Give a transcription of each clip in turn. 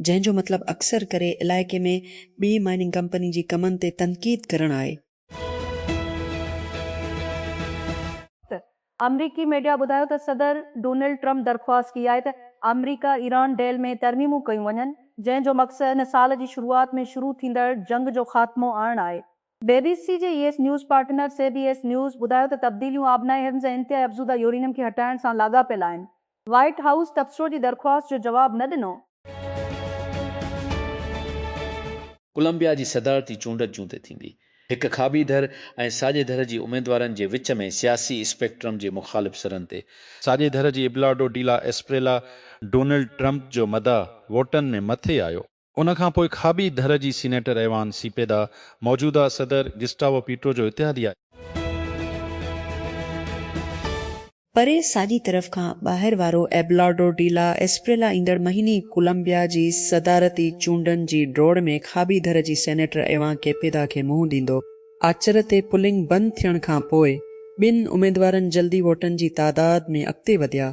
جنهن جو مطلب اڪثر ڪري علائقي ۾ ٻي مائننگ ڪمپني جي ڪمن تي تنقيد ڪرڻ آهي. آمريڪي ميڊيا ٻڌايو ته صدر ڊونلڊ ٽرمپ درخواست ڪئي آهي ته آمريڪا ايران ڊيل ۾ ترميمون ڪيون وڃن جنهن جو مقصد هن سال جي شروعات ۾ شروع ٿيندڙ جنگ جو خاتمو آڻڻ آهي بي بي سي جي يس news partner C B S news ٻڌايو ته تبديليون آبنائي هرنز ۽ انتهائي افزوده يورينيم کي هٽائڻ سان لاڳاپيل آهن، وائيٽ هائوس تبصرو جي درخواست جو جواب نه ڏنو. ڪولمبيا جي صدارتي چونڊ جون تي ٿيندي. هڪ کاٻي ڌر ۽ ساڄي ڌر جي اميدوارن جي وچ ۾ سياسي اسپيڪٽرم جي مخالف سرن تي، ساڄي ڌر جي Abelardo de la Espriella Donald Trump جو مداح ووٽن ۾ مٿي آيو. ان کان پوء کاٻي ڌر جي سينيٽر ايوان سيپيدا موجوده صدر گسٽاوو پيٽرو جو اتحادي آهي. پري ساڄي طرف کان ٻاهر وارو ايبلارڊو ڊي لا ايسپريلا ايندڙ مهيني ڪولمبيا جي صدارتي چونڊن جي ڊوڙ ۾ کاٻي ڌر جي سينيٽر ايوان ڪيپيدا کي منهن ڏيندو. آچر تي پولنگ بند ٿيڻ کان پوء ٻن اميدوارن جلدي ووٽن جي تعداد ۾ اڳتي وڌيا،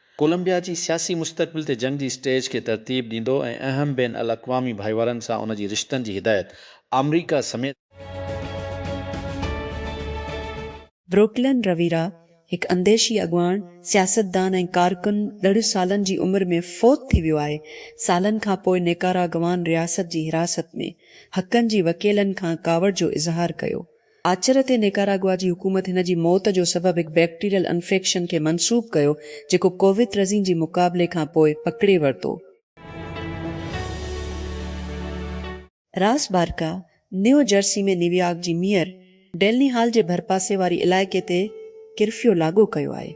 ڪولمبيا جي سياسي مستقبل تي جنگ جي اسٽيج کي ترتيب ڏيندو ۽ اهم بين الاقوامي ڀائيوارن سان ان جي رشتن جي هدايت آمريڪا سميت بروڪلن، رويرا، هڪ انديشي اڳواڻ، سياستدان ۽ ڪارڪن ڏھھ سالن جي عمر ۾ فوت ٿي ويو آھي، سالن کان پوء نيڪاراگوان رياست جي حراست ۾، حقن جي وڪيلن کان ڪاوڙ جو اظهار ڪيو. آچر تي نيڪاراگوا جي حڪومت هن جي موت جو سبب هڪ بيڪٽيريل انفيڪشن کي منسوب ڪيو جيڪو ڪوويترزين جي مقابلي کان پوء پڪڙي ورتو. Ras Baraka, New Jersey ۾ New York جي ميئر ڊيلني هال جي ڀرپاسي واري علائقي تي ڪرفيو لاڳو ڪيو آهي.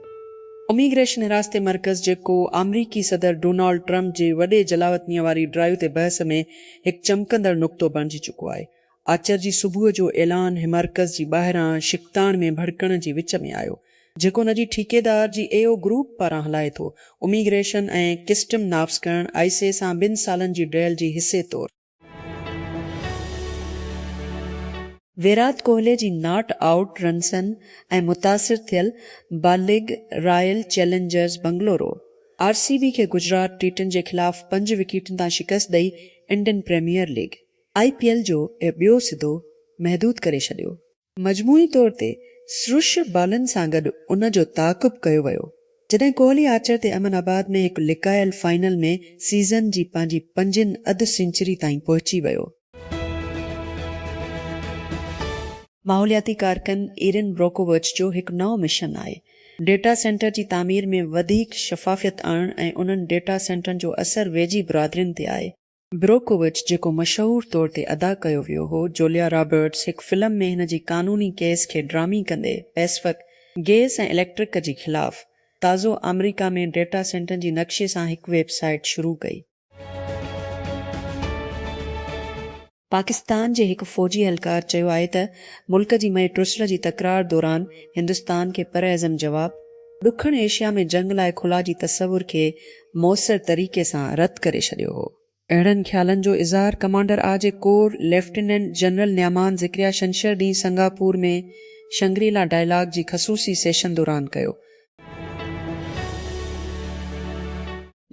اميگريشن حراستي مرڪز جيڪو آمريڪي صدر ڊونالڊ ٽرمپ جي وڏي جلاوطنيء واري ڊرائيو تي بحث ۾ هڪ چمڪندڙ نقطو بڻجي چڪو آهي، آچر جي صبح جو اعلان هيمرڪز جي ٻاهران شڪتاڻ ۾ ڀڙڪڻ جي وچ ۾ آيو، جيڪو ان جي ٺيڪيدار جي اي او گروپ پاران هلائي ٿو. اميگريشن ۽ ڪسٽم نافذ ڪرڻ آء سي سان ٻن سالن جي ڊيل جي حصي طور. ويرات ڪوهلي جي ناٽ آئوٽ رنسن ۽ متاثر ٿيل با league Royal Challengers Bengaluru, R C B, کي گجرات ٽيٽن جي خلاف پنج وڪيٽن تان شڪست ڏئي Indian premier league, I P L جو اهو ٻيو سدو محدود ڪري ڇڏيو. مجموعي طور تي سرش بالن سان گڏ ان جو تعاقب ڪيو ويو، جڏهن ڪوهلي آچر تي امن آباد ۾ هڪ لڪايل فائنل ۾ سيزن جي پنهنجي پنجين اڌ سينچري تائين پهچي ويو. ماحولياتي ڪارڪن ايرين بروڪووچ جو هڪ نئون مشن آهي ڊيٽا سينٽر جي تعمير ۾ وڌيڪ شفافيت آڻڻ ۽ انهن ڊيٽا سينٽرن جو اثر ويجهي برادرين تي آهي. بروڪووچ جيڪو مشهور طور تي ادا ڪيو ويو هو، جوليا رابرٽس، هڪ فلم ۾ هن جي قانوني ڪيس کي ڊرامي ڪندي پئسفڪ گيس ۽ اليڪٽرڪ جي خلاف تازو آمريڪا ۾ ڊيٽا سينٽرن جي نقشي سان هڪ ويب سائيٽ شروع ڪئي. پاڪستان جي هڪ فوجي اهلڪار چيو آهي ته ملڪ جي مئي ٽرسلر جي تڪرار دوران هندستان کي پرعزم جواب، ڏکڻ ايشيا ۾ جنگ لاء خلا جي تصور کي موثر طريقي سان رد ڪري ڇڏيو هو. اهڙن خيالن جو اظهار ڪمانڊر آء جي corps lieutenant general Nauman Zakaria ڇنڇر ڏينهن سنگاپور ۾ شنگري لا ڊائلاگ جي خصوصي سيشن دوران ڪيو.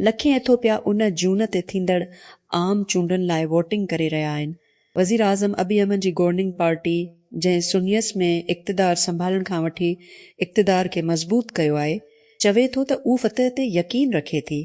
لکين ايٿوپيا ان جون تي ٿيندڙ عام چونڊن لاء ووٽنگ ڪري رهيا آهن، وزيراعظم ابي احمد جي گورننگ پارٽي جنهن سنيس ۾ اقتدار سنڀالڻ کان وٺي اقتدار کي مضبوط ڪيو آهي، چوي ٿو ته اهو فتح تي يقين رکي ٿي.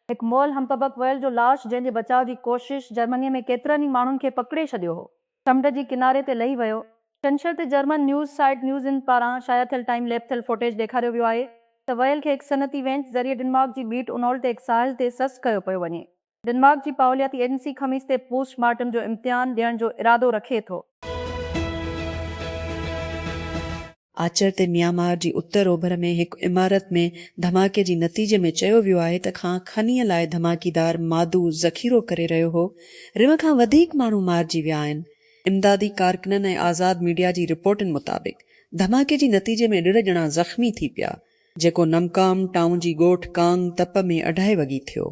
هڪ مئل همپبڪ وئل جو لاش جنهن جي بچاء جي ڪوشش جرمني ۾ ڪيترن ئي ماڻهن کي پڪڙي ڇڏيو هو. سمنڊ جي ڪناري تي لهي ويو. ڇنڇر تي جرمن نيوز سائيٽ نيوز ان پاران شايع ٿيل ٽائيم ليپ ٿيل فوٽيج ڏيکاريو ويو آهي ته وهيل کي هڪ صنعتي وينچ ذريعي ڊنمارڪ جي بيٽ انول تي هڪ ساحل تي سست ڪيو پيو وڃي. ڊنمارڪ جي پاولياتي ايجنسي خميس تي پوسٽ مارٽم جو امتحان ڏيڻ جو ارادو رکي ٿو. آچر تي ميانمار جي اتر اوڀر ۾ هڪ عمارت ۾ ڌماڪي جي نتيجي ۾ چيو ويو آهي ته کان کنيء لاء ڌماڪيدار مادو ذخيرو ڪري رهيو هو، ريو کان وڌيڪ ماڻهو مارجي ويا آهن. امدادي ڪارڪنن ۽ آزاد ميڊيا جي رپورٽن مطابق ڌماڪي جي نتيجي ۾ ڏھه ڄڻا زخمي ٿي پيا، جيڪو نمڪام ٽائون جي ڳوٺ ڪانگ تپ ۾ اڍائي وڳي ٿيو.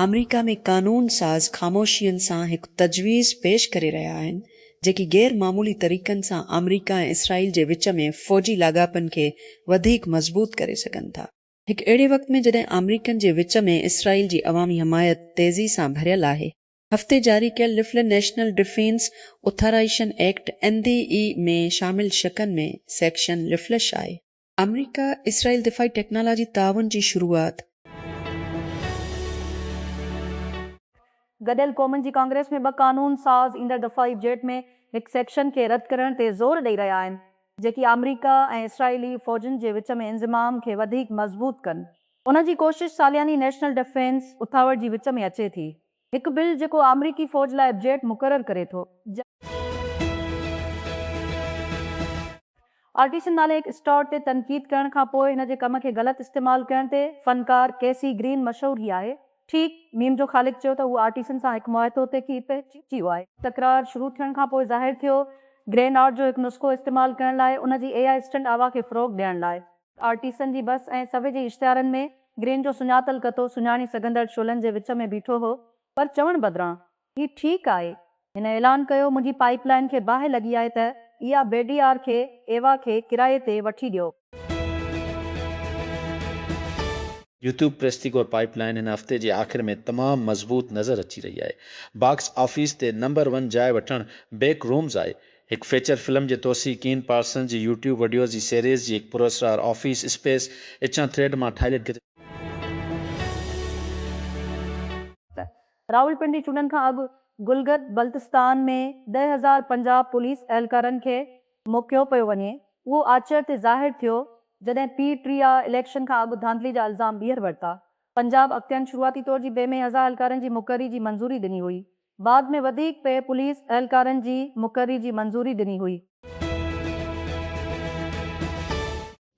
آمريڪا ۾ قانون ساز خاموشين سان هڪ تجويز پيش ڪري رهيا آهن، جيڪي غير معمولي طريقن سان آمريڪا ۽ اسرائيل جي وچ ۾ فوجي لاڳاپن کي وڌيڪ مضبوط ڪري سگهن ٿا. هڪ اهڙي وقت ۾ جڏهن آمريڪن جي وچ ۾ اسرائيل جي عوامي حمايت تيزي سان ڀريل آهي، هفتي جاري ڪيل لفلن national defence authorisation act, NDAA، ۾ شامل شقن ۾ سيڪشن لفلش آهي. آمريڪا اسرائيل دفاعي ٽيڪنالاجي تعاون جي شروعات. گڏيل قومن جي ڪانگريس ۾ ٻه قانون ساز ايندڙ دفاعي بجيٽ ۾ هڪ سيڪشن کي رد ڪرڻ تي زور ڏئي رهيا آهن جيڪي آمريڪا ۽ اسرائيلي فوجن جي وچ ۾ انضمام کي وڌيڪ مضبوط ڪن. ان جي ڪوشش سالياني نيشنل ڊفينس اٿاوڙ جي وچ ۾ اچي ٿي هڪ بل جيڪو آمريڪي فوج لاء بجيٽ مقرر ڪري ٿو. آرٽيسن نالي هڪ اسٽار تي تنقيد ڪرڻ کان پوء هن جي ڪم کي غلط استعمال ڪرڻ تي فنڪار ڪيسي گرين مشهور هي آهي. ٺيڪ ميم جو خالق چيو ته هو آرٽيسن سان هڪ معاهتو تي ڪي پهچيو آهي. تڪرار شروع ٿيڻ کان پوء ظاهر ٿيو گرين آرٽ جو هڪ نسخو استعمال ڪرڻ لاء ان جي اي آء اسٽنٽ آوا کي فروغ ڏيڻ لاء. آرٽيسن جي بس ۽ سوي جي اشتهارن ۾ گرين جو سڃاتل ڪتو سڃاڻي سگهندڙ شعلن جي وچ ۾ بيٺو هو پر چوڻ بدران هي ٺيڪ آهي هن اعلان ڪيو منهنجي پائيپ لائين کي باهه لڳي آهي ته اها بي ڊي آر کي ايوا کي ڪرائي تي وٺي ڏيو. يوٽيوب پريس تي گور پائيپ لائين هن هفتي جي آخر ۾ تمام مضبوط نظر اچي رهي آهي باڪس آفيس تي نمبر ون جاء وٺڻ بيڪ رومز آهي هڪ فيچر فلم جي توسيع ڪين پارسنز جي يوٽيوب وڊيوز جي سيريز جي هڪ پراسرار آفيس اسپيس اچان ٿريڊ مان ٺاهيل هڪ ته راولپنڊي چونڊن کان اڳ گلگت بلتستان ۾ ڏهه هزار پنجاهه پوليس اهلڪارن کي موڪيو پيو وڃي اهو آچر تي ظاهر ٿيو جڏهن پي ٽي آء اليڪشن کان اڳ ڌانڌلي جا الزام ٻيهر ورتا پنجاب اڳتين شروعاتي طور جي بي مي هزار اهلڪارن جي مقرري جي منظوري ڏني هئي بعد ۾ وڌيڪ پئي پوليس اهلڪارن جي مقرري جي منظوري ڏني هئي.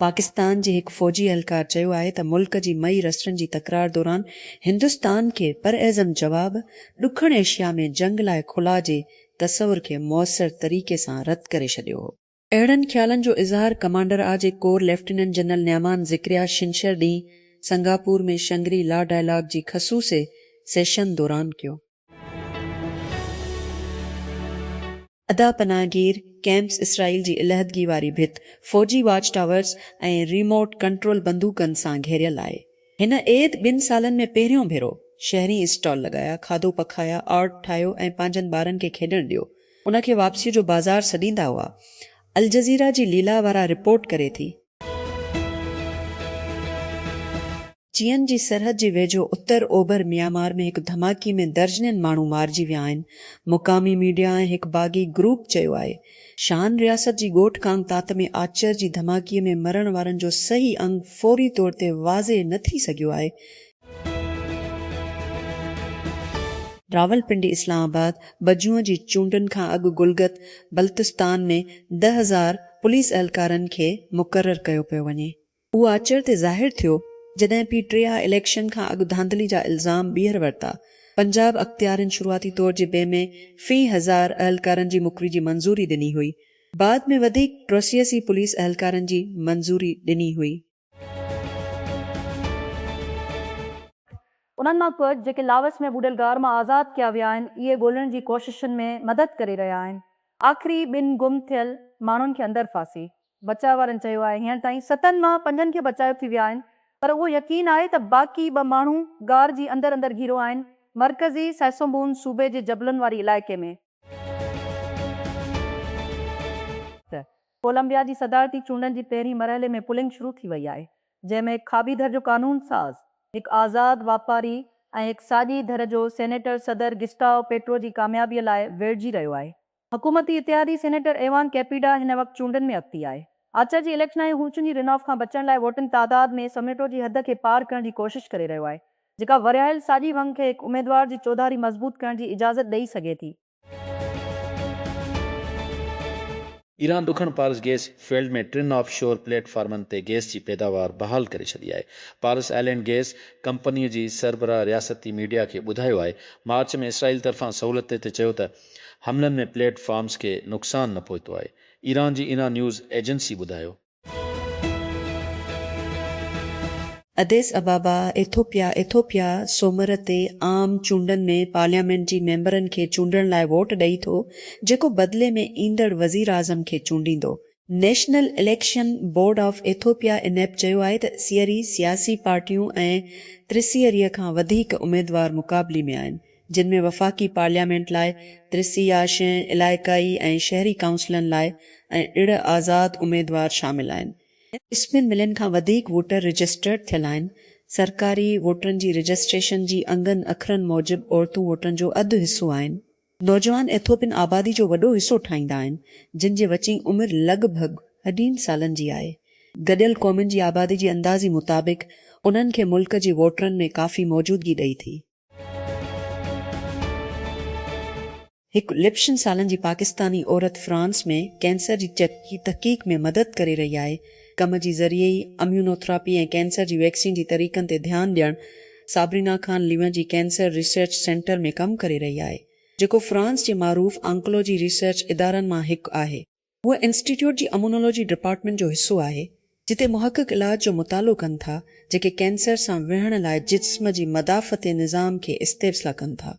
پاڪستان جي هڪ فوجي اهلڪار چيو آهي ته ملڪ جي مئي رسٽن جي تڪرار دوران هندستان کي پراعزم جواب ڏکڻ ايشيا ۾ جنگ لاء خلا جي تصور کي موثر طريقي سان رد ڪري ڇڏيو هو. اهڙن خيالن جو اظهار ڪمانڊر آء جي corps lieutenant general Nauman Zakaria ڇنڇر ڏينهن سنگاپور ۾ شنگري لا ڊائلاگ جي خصوصي سيشن دوران ڪيو. ادا پناهگير ڪئمپس اسرائيل جي علحدگي واري ڀت فوجي واچ ٽاورز ۽ ريموٽ ڪنٽرول بندوقن سان گهيريل آهي هن عيد ٻن سالن ۾ پهريون ڀيرو شهرين اسٽال لڳايا، کاڌو پکايا، آرٽ ٺاهيو ۽ پنهنجن ٻارن کي کيڏڻ ڏيو، ان کي واپسيء جو بازار سڏيندا هئا. الجزيره جي ليلا وارا رپورٽ ڪري ٿي. چين جي سرحد جي ويجهو اتر اوڀر ميامار ۾ هڪ ڌماڪي ۾ درجنين ماڻهو مارجي ويا آهن. مقامي ميڊيا ۽ هڪ باغي گروپ چيو آهي شان رياست جي ڳوٺ ڪانگتات ۾ آچر جي ڌماڪي ۾ مرڻ وارن جو صحيح انگ فوري طور تي واضح نه ٿي سگهيو آهي. راولپنڊي اسلام آباد بجون جي چونڊن کان اڳ گلگت بلتستان ۾ ڏهه هزار پوليس اهلڪارن کي مقرر ڪيو پيو وڃي. اهو آچر تي ظاهر ٿيو جڏهن پي ٽي آء اليڪشن کان اڳ ڌانڌلي جا الزام ٻيهر ورتا، پنجاب اختيارين شروعاتي طور جي بي ۾ في هزار اهلڪارن جي مڪري جي منظوري ڏني هئي، بعد ۾ وڌيڪ پروسيسي پوليس اهلڪارن جي منظوري ڏني هئي. انهن مان ڪجهه جيڪي لاوس ۾ ٻوڏل غار مان آزاد ڪيا ويا آهن اهي ڳولڻ جي ڪوششن ۾ مدد ڪري رهيا آهن، آخري ٻن گم ٿيل ماڻهن کي اندر ڦاسي بچاء وارن چيو آهي هينئر تائين ستن مان پنجن کي بچايو ٿي ويا آهن پر اهو يقين آهي ته باقي ٻه ماڻهو غار جي اندر اندر گهيرو آهن مرڪزي سئسومبون صوبي جي جبلن واري علائقي ۾. ڪولمبيا جي صدارتي چونڊن جي پهرين مرحلي ۾ پولنگ شروع ٿي وئي آهي جنهن ۾ هڪ کاٻي ڌر جو قانون ساز، هڪ آزاد واپاري ۽ هڪ ساڄي ڌر جو سينيٽر صدر گسٽائو پيٽرو جي ڪاميابي لاء ويڙهجي رهيو آهي. حڪومتي اتحادي سينيٽر ايوان ڪيپيڊا هن وقت چونڊن ۾ اڳتي آهي. آچر جي اليڪشن آهي هو چونجي رناف کان بچڻ لاء ووٽنگ تعداد ۾ سميٽو جي حد کي پار ڪرڻ جي ڪوشش ڪري رهيو آهي جيڪا ورهايل ساڄي ونگ کي هڪ اميدوار جي چوڌاري مضبوط ڪرڻ جي اجازت ڏئي سگهي ٿي. ايران ڏکڻ پارس گيس فيلڊ ۾ ٽن آف شور پليٽ فارمن تي گيس جي پيداوار بحال ڪري ڇڏي آهي. پارس آئلينڊ گيس ڪمپنيء جي سربراهه رياستي ميڊيا کي ٻڌايو آهي. مارچ ۾ اسرائيل طرفان سهولت تي چيو ته حملن ۾ پليٽ فارمز کي نقصان نه پهتو آهي، ايران جي انا نيوز ايجنسي ٻڌايو. اديس ابابا، ايٿوپيا، ايٿوپيا سومر تي عام چونڊن ۾ پارليامينٽ جي ميمبرن کي چونڊڻ لاء ووٽ ڏئي ٿو، جيڪو بدلي ۾ ايندڙ وزيراعظم کي چونڊيندو. National election board of Ethiopia, انيب، چيو آهي ته سيئري سياسي پارٽيون ۽ ٽي سيئري کان وڌيڪ اميدوار مقابلي ۾ آهن، جن ۾ وفاقي پارليامينٽ لاء ٽيسي يا شين علائقائي ۽ شهري ڪائونسلن لاء ۽ ڙڙ آزاد اميدوار شامل آهن. اسپين ملين کان وڌيڪ ووٽر رجسٽرڊ ٿيل آهن. سرڪاري ووٽرن جي رجسٽريشن جي انگن اکرن موجب عورتون ووٽرن جو اڌ حصو آهن. نوجوان ايٿوپين آبادي جو وڏو حصو ٺاهيندا آهن، جن جي وچين عمر لڳ ڀڳ اڍين سالن جي آهي. گڏيل قومن جي آبادي جي اندازي مطابق انهن کي ملڪ جي ووٽرن ۾ ڪافي موجودگي ڏئي ٿي. هڪ لپشن سالن جي پاڪستاني عورت فرانس ۾ ڪينسر جي چيپ جي تحقيق ۾ مدد ڪري رهي آهي، ڪم جي ذريعي ئي اميونوٿراپي ۽ ڪينسر جي ويڪسين جي طريقن تي ڌيان ڏيڻ صابرينا خان ليون جي ڪينسر ريسرچ سينٽر ۾ ڪم ڪري رهي آهي، جيڪو فرانس جي معروف آنڪولوجي ريسرچ ادارن مان هڪ آهي. هو انسٽيٽيوٽ جي امونولوجي ڊپارٽمينٽ جو حصو آهي، جتي محقق علاج جو مطالعو ڪن ٿا، جيڪي ڪينسر سان وڙهڻ لاء جسم جي مدافعتي نظام کي استيبسلا ڪن ٿا.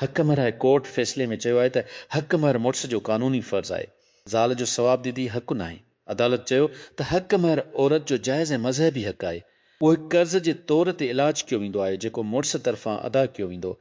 حق مهر هاء ڪورٽ فيصلي ۾ چيو آهي ته حق مهر مڙس جو قانوني فرض آهي. زال جو ثواب ديدي حق ناهي. عدالت چيو ته حق مهر عورت جو جائز ۽ مذهبي حق آهي. اهو هڪ قرض جي طور تي علاج ڪيو ويندو آهي، جيڪو مڙس طرفان ادا ڪيو ويندو.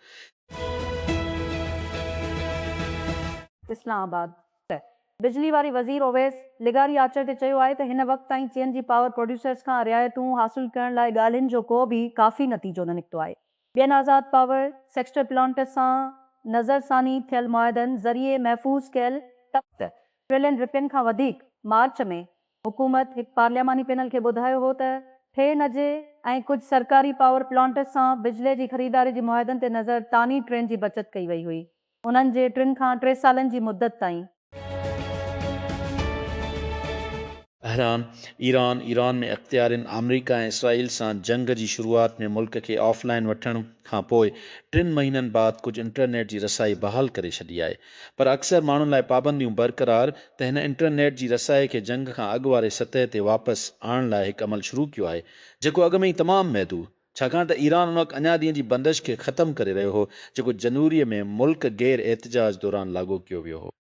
اسلام آباد، پ پ، بجلي واري وزير اويس لغاري آچر تي چيو آهي ته هن وقت تائين چين جي پاور پروڊيوسرز کان رعايتون حاصل ڪرڻ لاء ڳالهين جو ڪو به ڪافي نتيجو نه نڪتو آهي، ٻين آزاد پاور سيڪٽر پلانٽس سان نظر ثاني ٿيل معاهدن ذريعي محفوظ ڪيل ست ٽريلين رپين کان وڌيڪ مارچ ۾ حڪومت هڪ پارلياماني پينل کي ٻڌايو هو ته ٺي نجي ۽ ڪجهه سرڪاري پاور پلانٽس سان بجلي جي خريداري جي معاهدن تي نظر ٽاني ٽرين جي بچت ڪئي وئي هئي انهن جي ٽن کان ٽي سالن جي مدت تائين. بحران ايران، ايران ۾ اختيارين آمريڪا ۽ اسرائيل سان جنگ جي شروعات ۾ ملڪ کي آف لائين وٺڻ کانپوء ٽن مهينن بعد ڪجهه انٽرنيٽ جي رسائي بحال ڪري ڇڏي آهي. پر اڪثر ماڻهن لاء پابنديون برقرار ته هن انٽرنيٽ جي رسائي کي جنگ کان اڳ واري سطح تي واپس آڻڻ لاء هڪ عمل شروع ڪيو آهي جيڪو اڳ ۾ ئي تمام محدو ڇاڪاڻ ته ايران ان وقت اڃا ڏينهن جي بندش کي ختم ڪري رهيو هو جيڪو جنوري ۾ ملڪ گير احتجاج دوران لاڳو ڪيو ويو هو.